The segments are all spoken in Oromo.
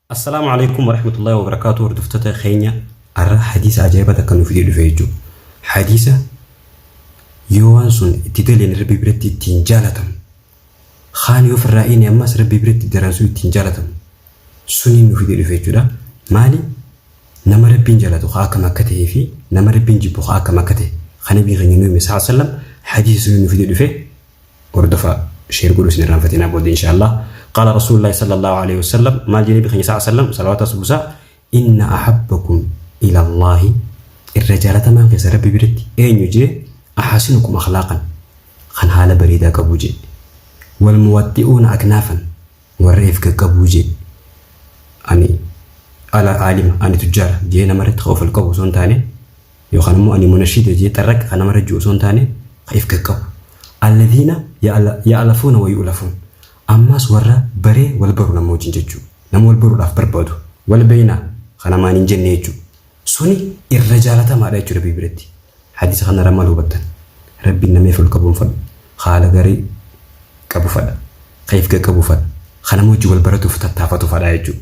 Assalaamu alaikum warahmatullahi wabarakaatuu hordoftoota keenya har'a hadiisa ajaa'iba takka nuuf fidee dhufe jechuudha. Hadiisa yoo waan sun itti daleen rabbi biratti ittiin jaalatamu kaan yoo firraa inni ammas rabbi biratti daran sun ittiin jaalatamu suniin nuuf fidee dhufe jechuudha. Maali nama rabbiin jaalatu haa akkam akka ta'ee fi nama rabbiin jibbu haa akkam akka ta'e kan nabii keenya nuyi sallallahu alaihi wasallam hadiisa suniin nuuf fidee dhufe hordofaa sheer godhu isin irraanfatinaa booda inshaallah qaala rasuulillahi sallallahu alaihi wasallam maal jedhee bikanya sa'a sallam salawaata subusa inna ahabbakum ila allahi irra jaalatamaan keessa rabbi biratti eenyu jee ahasinukum akhlaaqan kan haala bareedaa qabu jee wal muwaxxi'uuna aknaafan warra if qaqqabuu jee ani ala aalima ani tujjaara jee namarratti ofal qabu osoo hin taane yookaan immoo ani munashiida jee xarraqqa kan namarra jiru osoo hin taane ka if gaqqabu alladhiina ya'alafuuna wa yu'lafuun ammaas warra baree wal baru nama wajjin jechuu nama wal baruudhaaf barbaadu wal beeyna ka namaan hin jenne jechuu suni irra jaalatamaadha jechuu rabbii biratti hadiisa kanarra maal hubattan rabbiin nama if ol qabuun fadhu haala garii qabu fadha ka if gaqqabu fadha ka nama wajjin wal baratuuf tattaafatu fadha jechuudha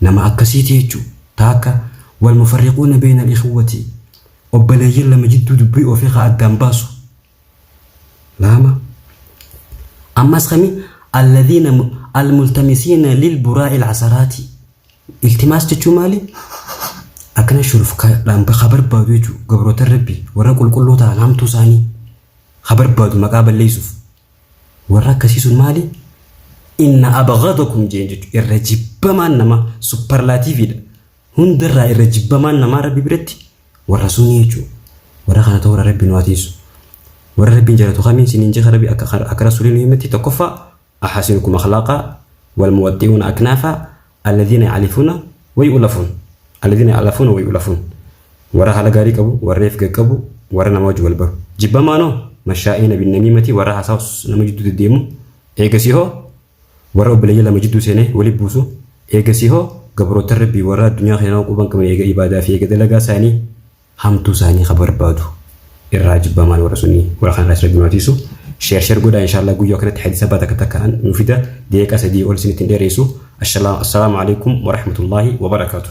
Nama akkasiiti jechu ta akka wal mufarriquuna beeyna al ikhiwwati obboleeyyan lama jidduu dubbii ofii ka addaan baasu laama ammas kami alladhiina al multamisiina lil buraa'i al asaraati iltimaas jechuu maali akkana shuruf ka dhaan ka barbaadu jechu gabrootan rabbi warra qulqulluu ta'an hamtuu isaanii ka barbaadu maqaa balleeysuuf Warra akkasii sun maali? Inna abghadakum jeen jechuudha. Irra jibbamaan namaa supparlaatiiviidha. Hundarraa irra jibbamaan namaa rabbi biratti warra sunii jechuudha. Warra kana ta'uu warra rabbi nu atiisu. Warra rabbiin jaalatu kamiin siniin jecha rabbi akka akka rasuuliin himetti tokkoffaa ahasinukum akhlaaqaa wal muwaxxi'uuna aknaafaa Alladhiina ya'alifuuna wayu'ulafuun Alladhiina ya'alafuuna wayu'ulafuun Warra haala gaarii qabu, warra ifga qabu, warra nama wajji wal baru. Jibbamaa noo mashaa'iina binnamiimati warra haasaa nama jidduu deddeemu. Eegasii hoo warra obboleeyyan lama jidduu seenee wali buusu. Eegasii hoo gabroottan Rabbii warra addunyaa keenyaa quban qabne eega ibaadaa fi eega dalagaa saanii hamtuu isaanii ka barbaadu irraa jibbamaan warra sunii warra kan irraa rabbi nu atiisu sheer sheer godhaa inshallah guyyoo akkanatti hadiisa baa takka takka an nu fida deeqa sadii ol isinitti hin dheereessu assalaamu alaikum warahmatullaahi wabarakaatu